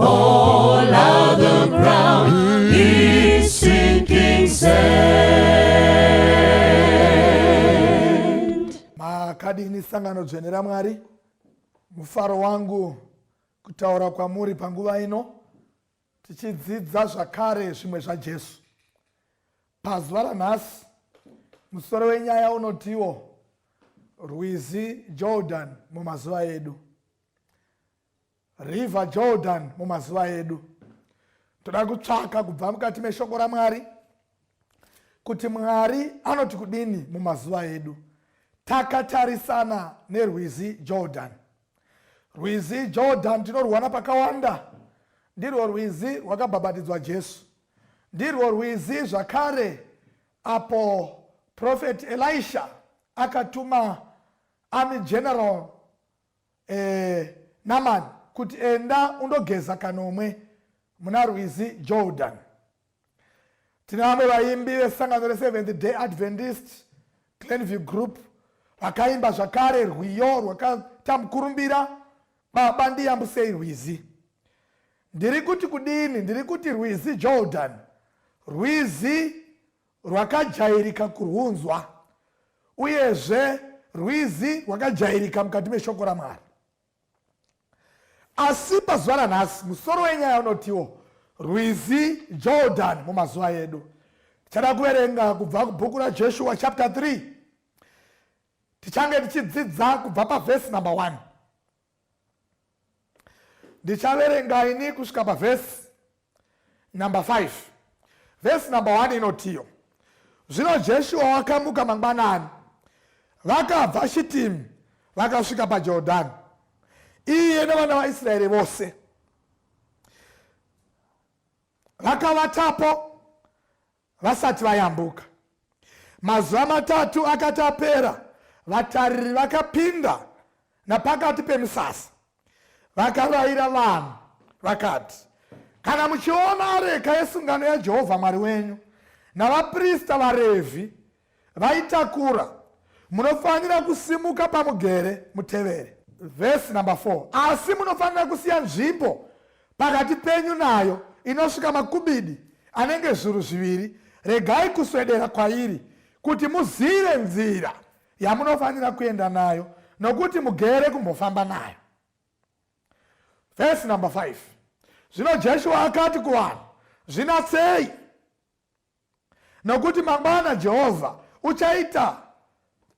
All other ground is sinking sand. Makadini sangano dzvene raMwari, mufaro wangu kutaura kwamuri panguva ino tichidzidza zvakare zvimwe zvaJesu. Pazuva ranhasi musoro wenyaya unotiwo rwizi Jordan mumazuva edu. River Jordan mumazuva edu. Toda kutsvaka kubva mukati meshoko raMwari kuti Mwari anoti kudini mumazuva edu. Takatarisana nerwizi Jordan. Rwizi Jordan tinorwana pakawanda. Ndirwo rwizi rwakabhabhatidzwa Jesu. Ndirwo rwizi zvakare apo Prophet Elisha akatuma army general eh, Naman kuti enda undogeza kanomwe muna rwizi Jordan. Tine vamwe vaimbi vesangano reSeventh Day Adventist Glenview Group vakaimba zvakare rwiyo rwakaita mukurumbira baba ndiyambusei rwizi ndiri kuti kudini ndiri kuti rwizi jordan rwizi rwakajairika kurwunzwa uyezve rwizi rwakajairika mukati meshoko ramwari asi pazuva ranhasi musoro wenyaya unotiwo rwizi jordan mumazuva edu tichada kuverenga kubva kubhuku rajeshua chapter 3 tichange tichidzidza kubva pavhesi number 1 ndichaverenga ini kusvika pavhesi number 5 vhesi number 1 inotiyo zvino jeshuwa wakamuka mangwanani vakabva shitimu vakasvika pajordhani iye nevana vaisraeri vose vakavatapo vasati vayambuka. Mazuva matatu akati apera, vatariri vakapinda napakati pemisasa vakaraira vanhu vakati, Kana muchiona areka yesungano yaJehovha Mwari wenyu navaprista vaRevhi vaitakura. Munofanira kusimuka pamugere mutevere. Vhesi number 4 asi munofanira kusiya nzvimbo pakati penyu nayo inosvika makubidi anenge zviuru zviviri regai kuswedera kwairi kuti muzive nzira yamunofanira kuenda nayo nokuti mugere kumbofamba nayo vhesi number 5 zvino jeshua akati kuvanhu zvinatsei Nokuti mangwana Jehovha uchaita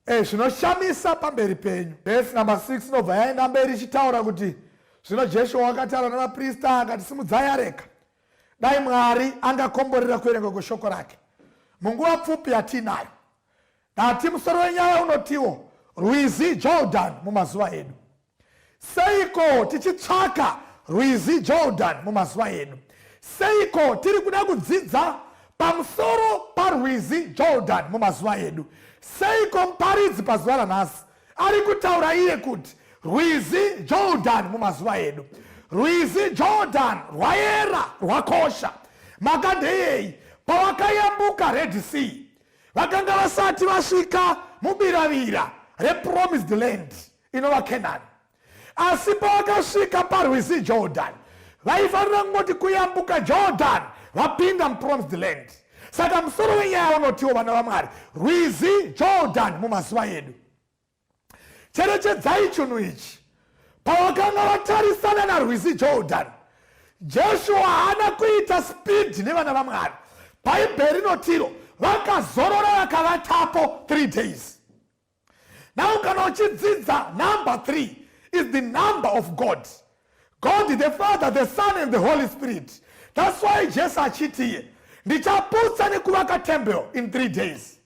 e, zvinoshamisa pamberi penyu. Vhesi namba 6 inobva yaenda mberi ichitaura kuti zvino Jeshua wakataura navaprista akati, simudzai areka. Dai Mwari angakomborera kuverenga kweshoko rake munguva pfupi yatiinayo. Dati musoro wenyaya unotiwo rwizi Jordan mumazuva edu. Seiko tichitsvaka rwizi Jordan mumazuva edu? Seiko tiri kuda kudzidza pamusoro parwizi Jordan mumazuva edu? Seiko muparidzi pazuva ranhasi ari kutaura iye kuti rwizi Jordan mumazuva edu? Rwizi Jordan rwayera, rwakosha. Maka ndeyei? Pavakayambuka Red Sea, vakanga vasati vasvika mubiravira repromised land. inova kenani asi pavakasvika parwizi jordan vaifanira kungoti kuyambuka jordan vapinda mupromised land saka musoro wenyaya unotiwo vana vamwari rwizi jordan mumazuva edu cherechedzai chunhu ichi pavakanga vatarisana narwizi jordan jeshua haana kuita spidhi nevana vamwari bhaibheri rinotiro vakazorora vakavatapo 3 days now kana uchidzidza number 3 is the number of god god the father the son and the holy spirit thats why jesu achitiye ndichaputsa nekuvaka temple in three days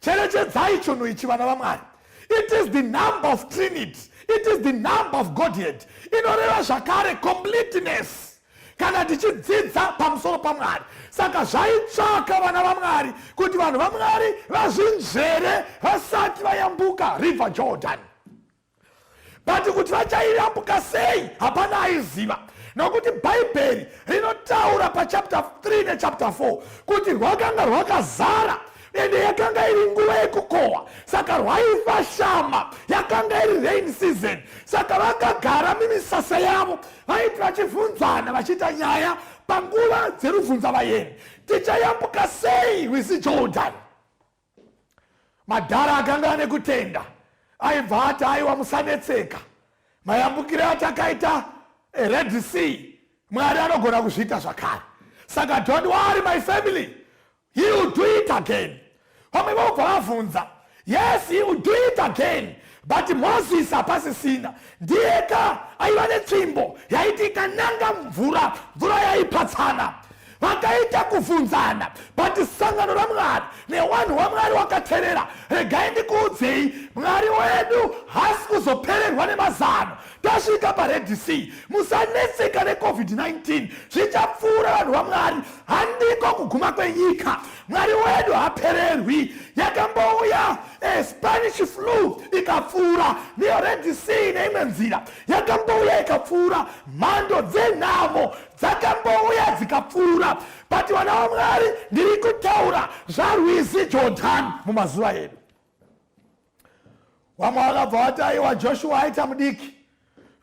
cherechedzai chunhu ichi vana vamwari it is the number of trinity it is the number of godhead inoreva zvakare completeness kana tichidzidza pamusoro pamwari saka zvaitsvaka vana vamwari kuti vanhu vamwari vazvinzvere vasati vayambuka river jordan but kuti vachaiyambuka sei hapana aiziva nokuti bhaibheri rinotaura pachapter 3 nechapter 4 kuti rwakanga rwakazara ende yakanga iri nguva yekukohwa saka rwaiva shama yakanga iri rain season saka vakagara mimisasa yavo vaiti vachibvunzana vachiita nyaya panguva dzerubvunza vayeni tichayambuka sei rwizi jordan madhara akanga ane kutenda aibva ati aiwa musanetseka mayambukire atakaita eh, red sea mwari anogona kuzviita zvakare saka don't worry my family He will do it again. Vamwe vobva vavhunza, yes he will do it again but moses hapasisina ndiyeka aiva netsvimbo yaiti ikananga mvura mvura yaipatsana vakaita kuvhunzana but sangano ramwari newanhu wamwari wakaterera regai ndikuudzei mwari wedu hasi kuzopererwa nemazano tasvika pared sea musanetseka necovid-19 zvichapfuura vanhu vamwari handiko kuguma kwenyika mwari wedu hapererwi yakambouya eh, spanish flu ikapfuura niyo red sea neimwe nzira yakambouya ikapfuura mhando dzenhamo dzakambouya dzikapfuura but vana vamwari ndiri kutaura zvarwizi jordan mumazuva edu vamwe vakabva vati aiwa joshua aita mudiki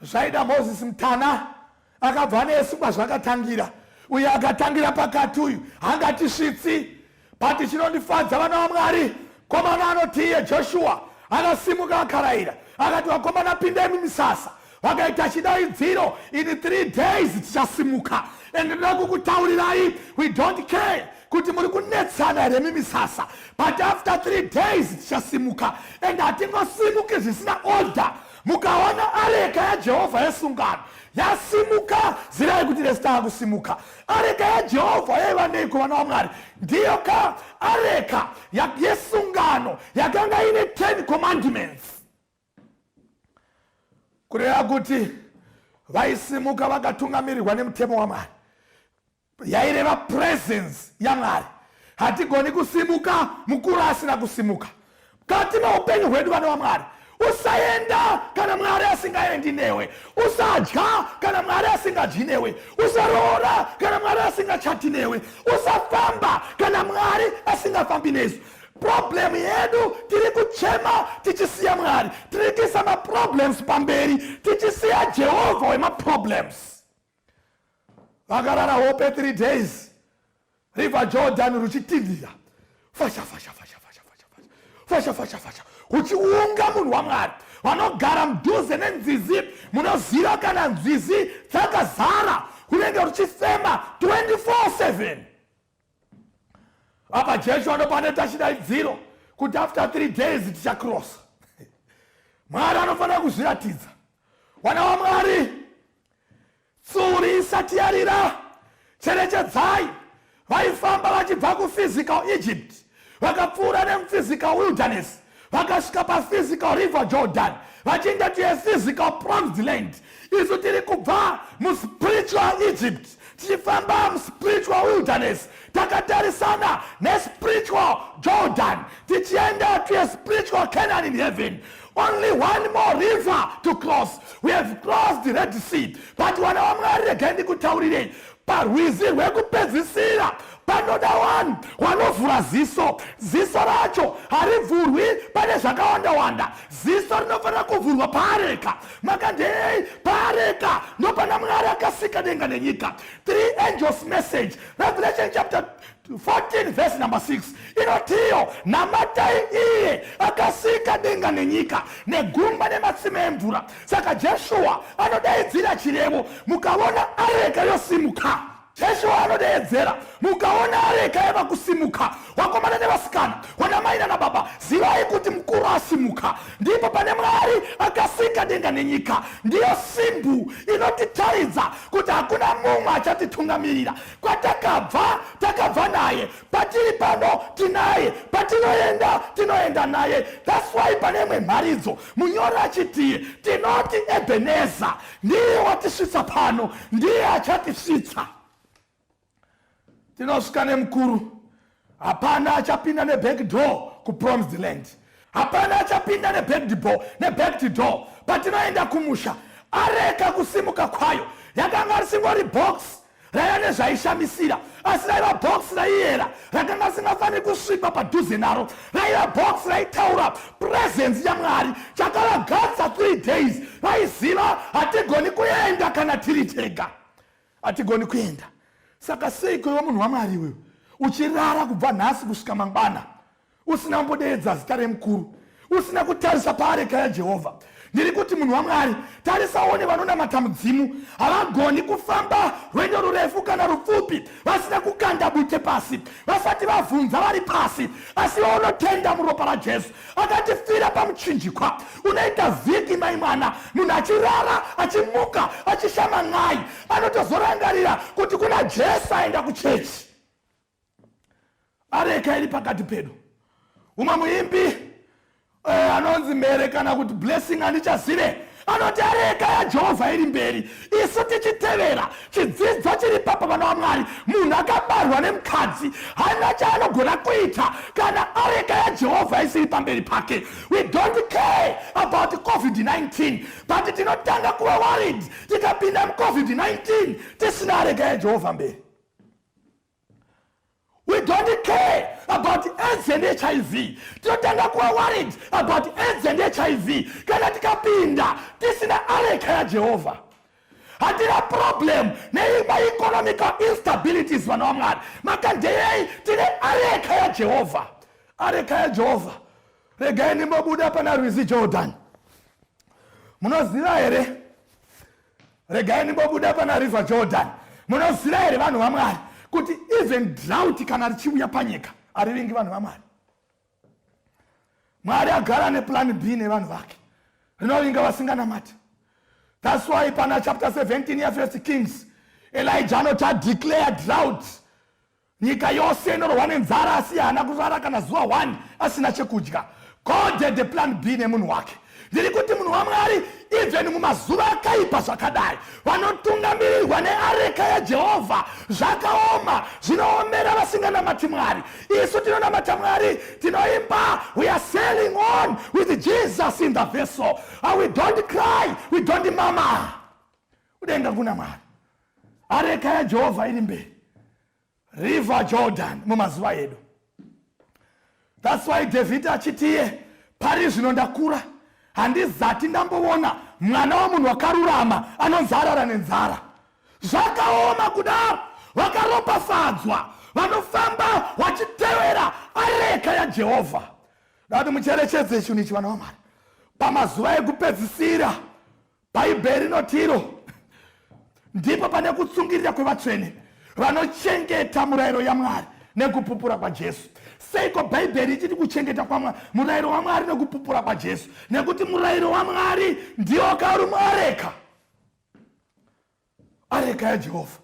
zvaida moses mutana akabva nesu kwazvakatangira uye akatangira pakati uyu hangatisvitsi but chinondifadza vana vamwari komana anoti iye joshua akasimuka akaraira akati vakomana pindai mumisasa vakaita chidaidziro in three days tichasimuka and ndoda kukutaurirai we don't care kuti muri kunetsana here mimisasa but after three days tichasimuka and hatingosimuki zvisina order mukaona areka yajehovha yesungano yasimuka zirai kuti resitava kusimuka areka yajehovha yaiva neiko vana vamwari ndiyo ka areka yesungano yakanga ine 10 commandments kureva kuti vaisimuka vakatungamirirwa nemutemo wamwari yaireva presence yamwari hatigoni kusimuka mukuru asina kusimuka kati maupenyu hwedu vana vamwari usaenda kana mwari asingaendi newe usadya kana mwari asingadyi newe usaroora kana mwari asingachati newe usafamba kana mwari asingafambi nesu problem yedu tiri kuchema tichisiya mwari tiri kuisa maproblems pamberi tichisiya jehovha wemaproblems vakarara hope three days river jordan ruchitindira fasha fasha fasha fasha fasha fasha fasha fasha uchiunga munhu wamwari vanogara mudhuze nenzizi munoziva kana nzizi dzakazara unenge uchifema 24 7 apa jesu anopa anoita chidaidziro kuti after three days tichakrosa mwari anofanira kuzviratidza wana wamwari tsuri isati yarira cherechedzai vaifamba vachibva kuphysical egypt vakapfuura nemuphysical wilderness vakasvika paphysical river jordan vachinge to a physical promised land isu tiri kubva muspiritual egypt tichifamba muspiritual wilderness takatarisana nespiritual jordan tichienda to a spiritual canaan in heaven only one more river to cross we have crossed the red sea but wana wamwari regai ndikutaurirei parwizi rwekupedzisira panoda wani wanovhura ziso ziso racho harivhurwi pane zvakawanda wanda ziso rinofanira kuvhurwa paareka makandei paareka ndopana mwari akasika denga nenyika three angels message revelation chapter 14 verse number 6 inotiyo namatai iye akasika denga nenyika negungwa nematsime emvura saka jeshuwa anodaidzira chirevo mukaona areka yosimuka jeshuwa anodeedzera mukaona areka yava kusimuka wakomana nevasikana wanamai nanababa zivai kuti mukuru asimuka ndipo pane mwari akasika denga nenyika ndiyo simbu inotitaridza kuti hakuna mumwe achatitungamirira kwatakabva takabva naye patiri pano tinaye patinoenda tinoenda naye thats why pane imwe mharidzo munyori achitiye tinoti ebeneza ndiye watisvitsa pano ndiye achatisvitsa tinosvika nemukuru Hapana achapinda neback door kupromised land. Hapana achapinda neback door, neback door. Patinoenda kumusha, areka kusimuka kwayo yakanga risingori box raiva nezvaishamisira asi raiva box raiyera rakanga risingafaniri kusvipa padhuze naro raiva box raitaura purezensi yamwari chakavagadza three days vaiziva hatigoni kuenda kana tiri tega Hatigoni kuenda. Saka seiko iwe munhu waMwari iwewe uchirara kubva nhasi kusvika mangwana usina kumbodeedza zita remukuru, usina kutarisa paareka yaJehovha? Ndiri kuti munhu waMwari, tarisa uone vanonamata mudzimu. Havagoni kufamba rwendo rurefu kana rupfupi vasina kukanda bute pasi, vasati vavhunza vari pasi. Asi unotenda muropa raJesu, akatifira pamuchinjikwa unoita vhiki mai mwana munhu achirara achimuka achishama n'ai anotozorangarira kuti kuna jesu aenda kuchechi areka iri pakati pedu umwe muimbi eh, anonzi mhere kana kuti blessing handichazive anoti areka yajehovha iri mberi isu tichitevera chidzidzo chiri papa vana vamwari munhu akabarwa nemukadzi haina chaanogona kuita kana areka yajehovha isiri pamberi pake we don't care about covid-19 but tinotanga kuva worried tikapinda mucovid-19 tisina areka yajehovha mberi we don't care about aids and hiv tinotanga kuva worried about aids and hiv kana tikapinda tisina areka yajehovha hatina problem nemaeconomical instabilities vana vamwari makandeyei tine areka yajehovha areka yajehovha regai ndimbobuda pana rwizi jordan munoziva here regai ndimbobuda pana river jordan munoziva here vanhu vamwari kuti even drought kana richiuya panyika arivingi vanhu vamwari mwari agara neplan b nevanhu vake rinovinga vasinganamati thats why pana chapter 17 yefirst kings elija anoti adeclare drought Nyika yose inorohwa nenzara asi haana kurara kana zuva one asina chekudya. God had a plan B nemunhu wake. Ndiri kuti munhu waMwari even mumazuva akaipa zvakadai vanotungamirirwa neareka yaJehovha zvakaoma zvinoomera vasinganamati Mwari. Isu tinonamata Mwari tinoimba we are sailing on with Jesus in the vessel and we don't cry we don't mama. kudenga kuna mwari areka yajehovha iri mberi river jordan mumazuva edu thats why david achitiye pari zvino ndakura handizati ndamboona mwana wamunhu wakarurama anonzi arara nenzara zvakaoma kudaro vakaropafadzwa vanofamba vachitevera areka yajehovha dati mucherechedze chinhu ichi vana vamwari pamazuva ekupedzisira Bhaibheri rinoti iro ndipo pane kutsungirira kwevatsvene vanochengeta murayiro yaMwari nekupupura kwaJesu. Seiko Bhaibheri ichiti kuchengeta kwaMwari murayiro waMwari nekupupura kwaJesu? Nekuti murayiro waMwari ndiwo karumoreka. areka yajehovha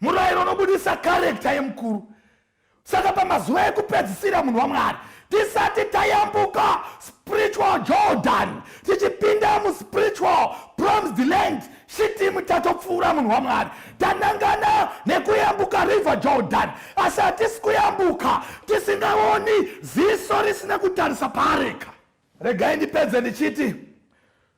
murayiro unobudisa karekta yemukuru saka pamazuva ekupedzisira munhu wamwari tisati tayambuka spiritual jordan tichipinda muspiritual promised land shitimu tatopfuura munhu wamwari tanangana nekuyambuka river jordan asi hatisi kuyambuka tisingaoni ziso risina kutarisa paareka regai ndipedze ndichiti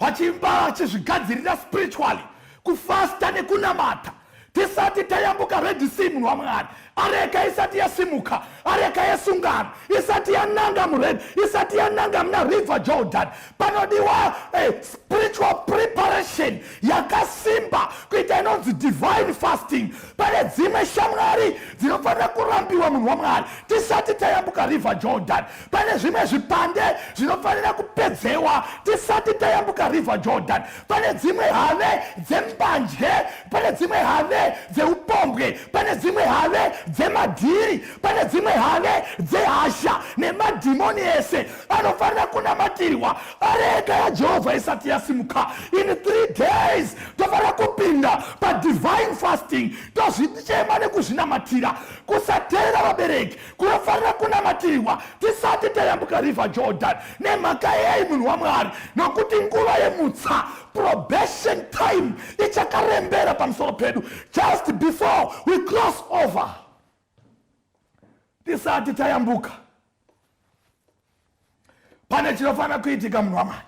vachimba vachizvigadzirira spiritually kufasta nekunamata tisati tayambuka red sea munhu wamwari areka isati yasimuka areka yesungano isati yananga mured isati yananga muna river jordan panodiwa eh, spiritual preparation yakasimba kuita inonzi divine fasting pane dzimwe shamwari dzinofanira kurambiwa munhu wamwari tisati tayambuka river jordan pane zvimwe zvipande zvinofanira kupedzewa tisati tayambuka river jordan pane dzimwe have dzembanje pane dzimwe have dzeupombwe pane dzimwe have dzemadhiri pane dzimwe have dzehasha nemadhimoni ese anofanira kunamatirwa areka yajehovha isati yasimuka in three days tofanira kupinda padivine fasting tozvichema nekuzvinamatira kusateera vabereki kunofanira kunamatirirwa tisati tayambuka river jordan nemhaka yei munhu wamwari nokuti nguva yemutsa probation time ichakarembera pamusoro pedu just before we cross over tisati tayambuka pane chinofanira kuitika munhu wamwari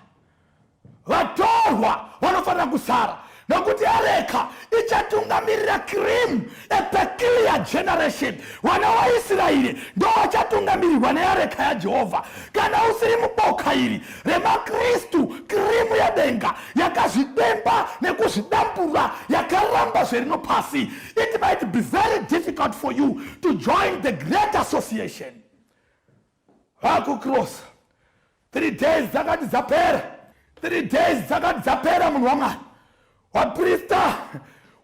vatorwa vanofanira kusara nokuti areka ichatungamirira cream a peculiar generation vana waisraeri ndovachatungamirirwa neareka yajehovha kana usiri muboka iri remakristu krimu yedenga yakazvidemba nekuzvidambura yakaramba zverino pasi it might be very difficult for you to join the great association vakukirosa three days dzakati dzapera three days dzakati dzapera munhu wamwari waprista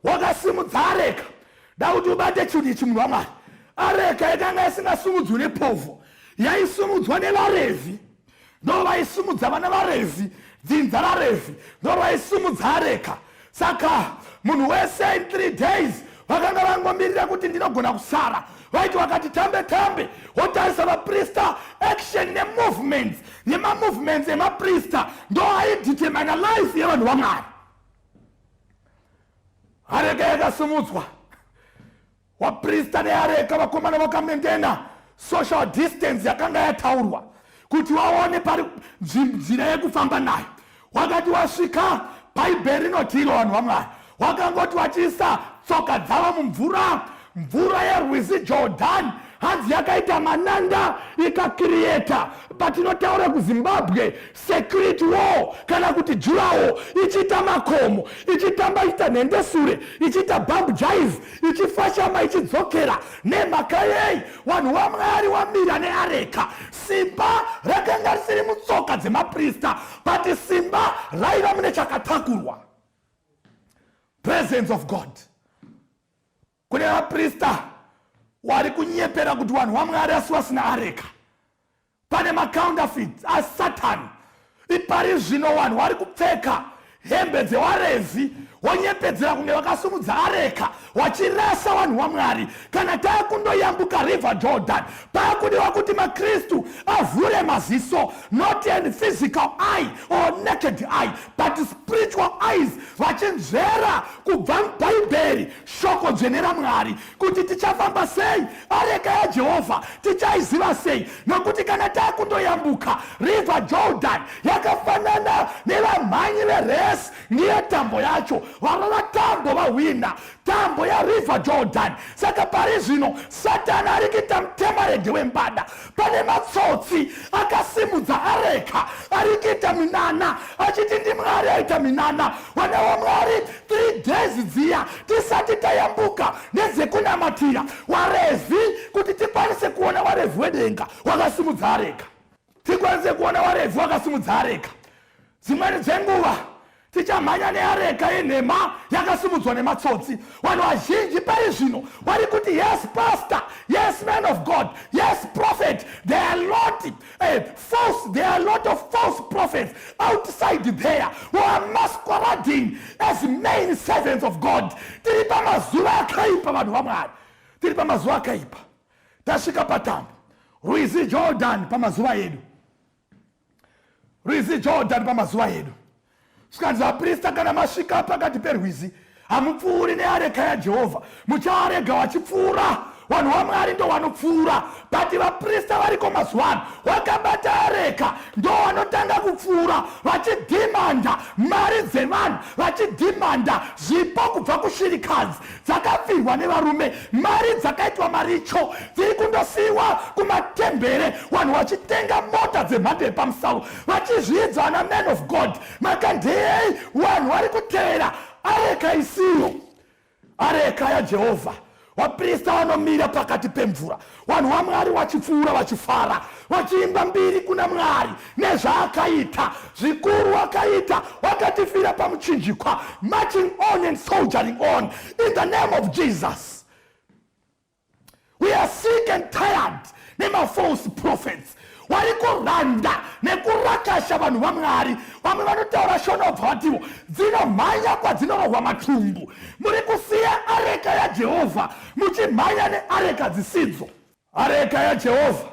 wakasimudza areka da kuti ubate chinhu ichi munhu wamwari areka yakanga isingasimudzwi nepovho yaisumudzwa nevarevhi ndo vaisumudza vana varevhi dzinza rarevhi ndo vaisumudza areka saka munhu wese in three days vakanga vangomirira kuti ndinogona kusara vaiti wakati tambe tambe wotarisa vaprista action nemovements nemamovements emaprista ndo aidetermina life yevanhu vamwari arega yakasimudzwa Waprista neareka vakomana vakamendena social distance yakanga yataurwa kuti waone pari nzira yekufamba nayo wakati wasvika bhaibheri rinoti iro vanhu vamwari wakangoti wachiisa tsoka dzavo mumvura mvura yerwizi jordani hanzi yakaita mananda ikakiriyeta patinotaura kuzimbabwe secret war kana kuti jurawo ichiita makomo ichitamba ichiita nhende sure ichiita bump jive ichifashama ichidzokera nemhaka yei vanhu vamwari wamira neareka simba rakanga risiri mutsoka dzemaprista but simba raiva mune chakatakurwa presence of god kune vaprista wari kunyepera kuti vanhu vamwari asi vasina areka pane macounterfeits asatani ipari zvino vanhu vari kupfeka hembe dzewarezi wonyepedzera kunge vakasumudza areka wachirasa vanhu vamwari kana tava kundoyambuka river jordan pava kudiwa kuti makristu avhure maziso not an physical eye or naked eye but spiritual eyes vachinzvera kubva mubhaibheri Shoko dzvene raMwari kuti tichafamba sei areka yaJehovha tichaiziva sei? Nokuti kana takundoyambuka River Jordan yakafanana nevamhanyi veresi ndiye tambo yacho varova tambo vahwina tambo yaRiver Jordan. Saka pari zvino Satani arikita mutemarege wembada pane matsotsi akasimudza areka ari kuita minana achiti ndi mwari aita minana wanewo mwari three days dziya tisati tayambuka nedzekunamatira warevhi kuti tikwanise kuona warevhi wedenga wakasimudza areka tikwanise kuona warevhi wakasimudza areka Dzimweni dzenguva tichamhanya neareka yenhema yakasimudzwa nematsotsi vanhu vazhinji pari zvino vari kuti yes pastor yes man of god yes prophet there are lot uh, false there are lot of false prophets outside there who are masquerading as main servants of god tiri pamazuva akaipa vanhu vamwari tiri pamazuva akaipa tasvika patambo rwizi jordan pamazuva edu rwizi jordan pamazuva edu zvikanzi vaprista kana masvika pakati perwizi hamupfuuri neareka yajehovha muchaarega wachipfuura vanhu vamwari ndo vanopfuura but vaprista variko mazuva ano wakabata areka ndo vanotanga kupfuura vachidhimanda mari dzevanhu vachidhimanda zvipo kubva kushirikadzi dzakafirwa nevarume mari dzakaitwa maricho dziri kundosiyiwa kumatembere vanhu vachitenga mota dzemhando yepamusavo vachizviidza ana man of god makandeyei vanhu vari kutevera areka isiyo areka yajehovha vaprista vanomira pakati pemvura vanhu vamwari vachipfuura vachifara vachiimba mbiri kuna mwari nezvaakaita zvikuru wakaita wakatifira pamuchinjikwa marching on and soldiering on in the name of jesus we are sick and tired nemafalse prophets wari kuranda nekurakasha vanhu vamwari vamwe vanotaura shona obva vatiwo dzinomhanya kwadzinorohwa matumbu muri kusiya areka yajehovha muchimhanya neareka dzisidzo areka yajehovha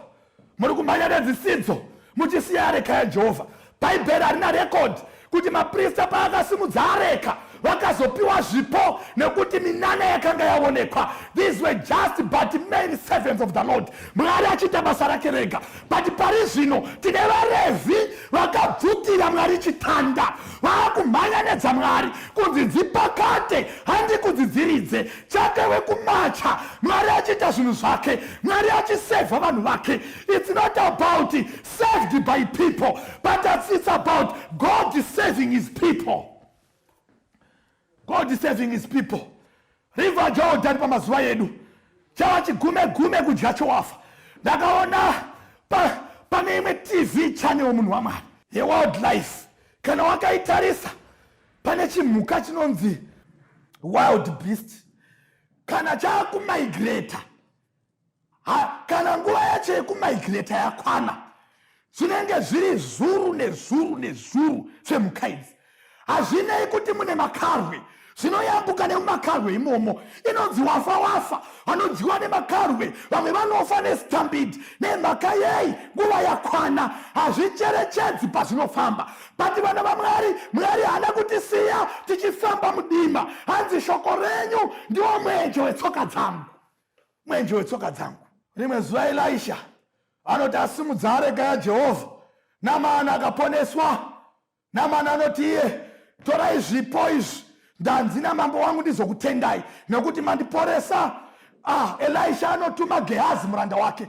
muri kumhanya nedzisidzo muchisiya areka yajehovha Bhaibheri harina rekodhi kuti maprista paakasimudza areka vakazopiwa zvipo nekuti minana yakanga yaonekwa these were just but main servants of the lord mwari achiita basa rake rega but pari zvino tine varevhi vakabvutira mwari chitanda vaakumhanya nedzamwari kunzi dzipakate handi kudzidziridze chake wekumacha mwari achiita zvinhu zvake mwari achisevha vanhu vake its not about saved by people but as it's about god saving his people god saving his people river jordan pamazuva edu chava chigume gume kudya chowafa ndakaona pa, pane imwe tv chane womunhu wamwari yewildlife kana wakaitarisa pane chimhuka chinonzi wild beast kana chaakumigrata ha kana nguva yacho yekumigreta yakwana zvinenge zviri zuru nezuru nezuru zvemhuka idzi hazvinei kuti mune makarwe zvinoyambuka nemumakarwe imomo inonzi wafa wafa vanodyiwa nemakarwe vamwe vanofa nestambidi nemhaka yei nguva yakwana hazvicherechedzi pazvinofamba bati vana vamwari mwari haana kutisiya tichifamba mudima hanzi shoko renyu ndiwo mwenje wetsoka dzangu mwenje wetsoka dzangu. Rimwe zuva Elisha anoti asimudza areka yaJehovha, Namani akaponeswa. Namani anoti iye, torai zvipo izvi, ndanzi namambo wangu ndizokutendai nekuti mandiporesa. Ah, Elisha anotuma Gehazi muranda wake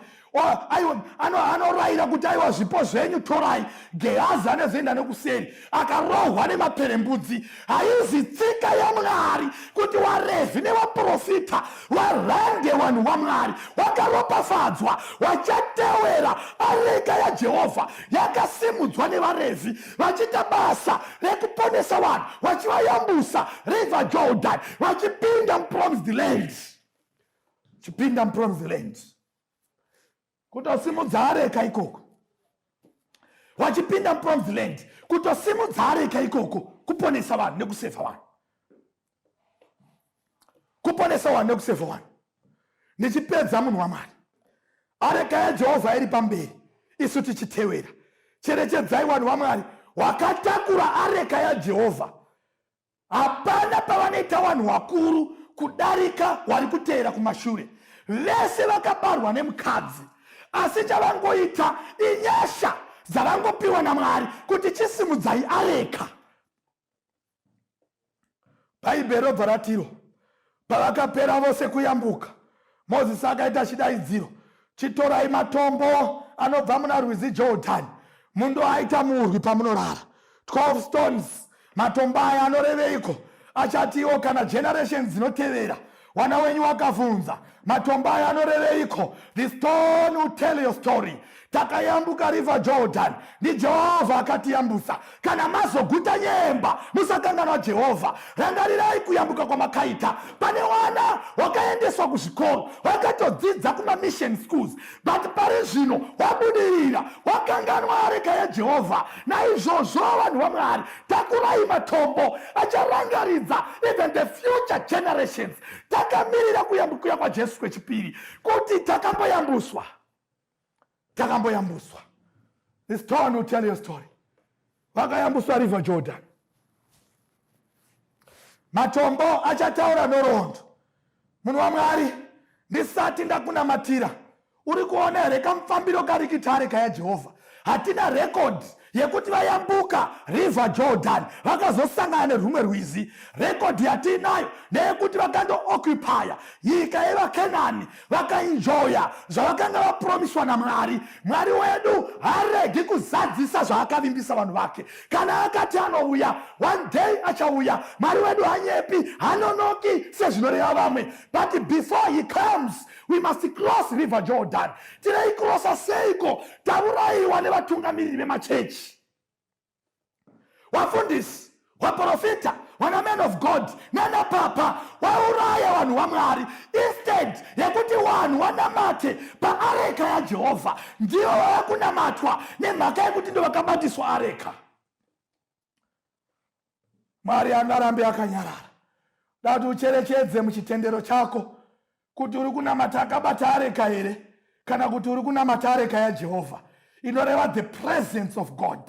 aiwa anorayira kuti aiwa zvipo zvenyu torai gehazi anozoenda nekuseri akarohwa nemaperembudzi haizi tsika yamwari kuti warevi nevaprofita warande vanhu vamwari wakaropafadzwa wachatewera areka yajehovha yakasimudzwa nevarevi vachiita basa rekuponesa vanhu vachivayambusa river jordan vachipinda mupromised land chipinda mupromised land kutosimudza areka ikoko wachipinda mupromise land kutosimudza areka ikoko kuponesa vanhu nekusevha vanhu kuponesa vanhu nekusevha vanhu ndichipedza munhu wamwari areka yajehovha iri pamberi isu tichitewera cherechedzai vanhu vamwari wakatakura areka yajehovha hapana pavanoita vanhu vakuru kudarika wari kuteera kumashure vese vakabarwa nemukadzi asi chavangoita inyasha dzavangopiwa namwari kuti chisimudzai areka bhaibheri robva ratiro Pavakapera vose kuyambuka, Mozisi akaita chidaidziro, Chitorai matombo anobva muna rwizi Jordani mundoaita murwi pamunorara. 12 stones. Matombo aya anoreveiko? Achatiwo kana generation dzinotevera wana wenyu wakavhunza matombo aya anoreveiko the stone will tell your story takayambuka river jordan ndijehovha akatiyambusa kana mazoguta nyemba musakanganwa jehovha rangarirai kuyambuka kwamakaita pane wana wakaendeswa kuzvikoro wakatodzidza kumamission schools but pari zvino wabudirira wakanganwa areka yajehovha naizvozvo vanhu vamwari takurai matombo acharangaridza even the future generations takamirira kuyambukuya kwajesu kwechipiri kuti takamboyambuswa takamboyambuswa this town will tell your story vakayambuswa river jordan matombo achataura nhoroondo munhu wamwari ndisati ndakunamatira uri kuona here kamufambiro karikitare kaya jehovha hatina rekodhi yekuti vayambuka river jordan vakazosangana nerwumwe rwizi rekodhi yatiinayo neyekuti vakandookupaya nyika yevakenani vakainjoya zvavakanga vapromiswa namwari mwari wedu haregi kuzadzisa zvaakavimbisa vanhu vake kana akati anouya one day achauya mwari wedu hanyepi hanonoki sezvinoreva vamwe but before he comes we must cross river jordan tirei kurosa seiko tauraiwa nevatungamiriri vemachechi wafundisi waprofita wana man of god nana papa wauraya vanhu vamwari instead yekuti vanhu wanamate paareka yajehovha ndivo vava kunamatwa nemhaka yekuti ndovakabatiswa areka mwari angarambe akanyarara dati ucherechedze muchitendero chako kuti uri kunamata akabata areka here kana kuti uri kunamata areka yajehovha inoreva the presence of god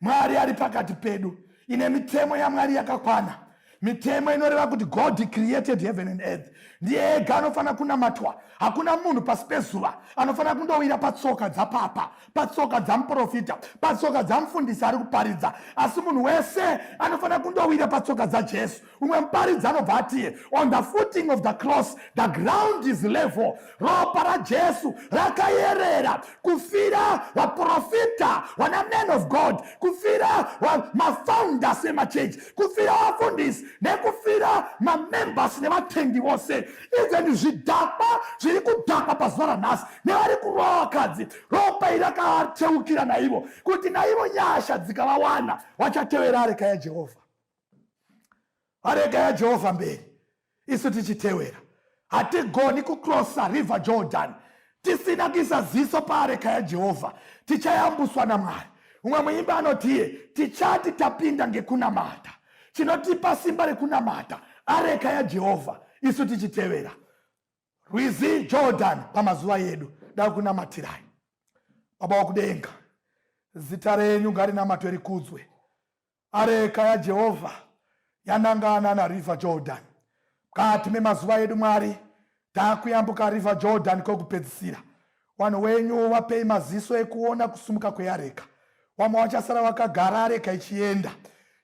mwari ari pakati pedu ine mitemo yamwari yakakwana mitemo inoreva kuti god created heaven and earth ndiye ega anofanira kunamatwa hakuna munhu pasi pezuva anofanira kundowira patsoka dzapapa patsoka dzamuprofita patsoka dzamufundisi ari kuparidza asi munhu wese anofanira kundowira patsoka dzajesu umwe muparidzi anobva atiye on the footing of the cross the ground is level ropa rajesu rakayerera kufira vaprofita vana man of god kufira mafounders emachechi kufira vafundisi nekufira mamembers nevatendi vose even zvidhakwa zviri kudhakwa pazuva ranhasi nevari kurova vakadzi ropa iri rakateukira naivo kuti naivo nyasha dzikavawana vachatevera areka yajehovha arega yajehovha mberi isu tichitewera hatigoni kucrossa river jordan tisina kuisa ziso paareka yajehovha tichayambuswa namwari umwe muimba anotiye tichati tapinda ngekunamata chinotipa simba rekunamata areka yajehovha isu tichitevera rwizi jordan pamazuva yedu da kunamatirai baba wakudenga zita renyu ngarinamatwe rikudzwe Areka yaJehovha yanangana naRiver Jordan. Mukati memazuva edu Mwari takuyambuka River Jordan kwekupedzisira. Vanhu wenyu vapei maziso ekuona kusumuka kweareka. Wamwe wachasara wakagara areka ichienda.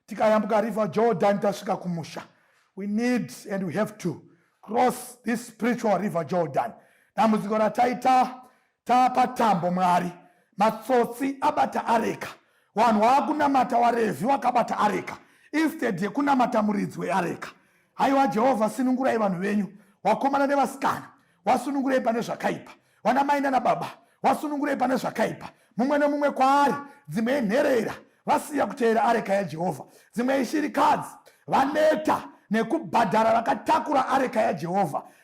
Tikayambuka River Jordan tasvika kumusha. We need and we have to cross this spiritual River Jordan. Dambudziko rataita tapa tambo mwari matsotsi abata areka vanhu waakunamata warevhi wakabata areka instead yekunamata muridzi weareka haiwa jehovha sinungurai vanhu venyu wakomana nevasikana wasunungurei pane zvakaipa vana mai nana baba wasunungurei pane zvakaipa mumwe nemumwe kwaari dzimwe inherera vasiya kuteera areka yajehovha dzimwe ishirikadzi vaneta nekubhadhara vakatakura areka yajehovha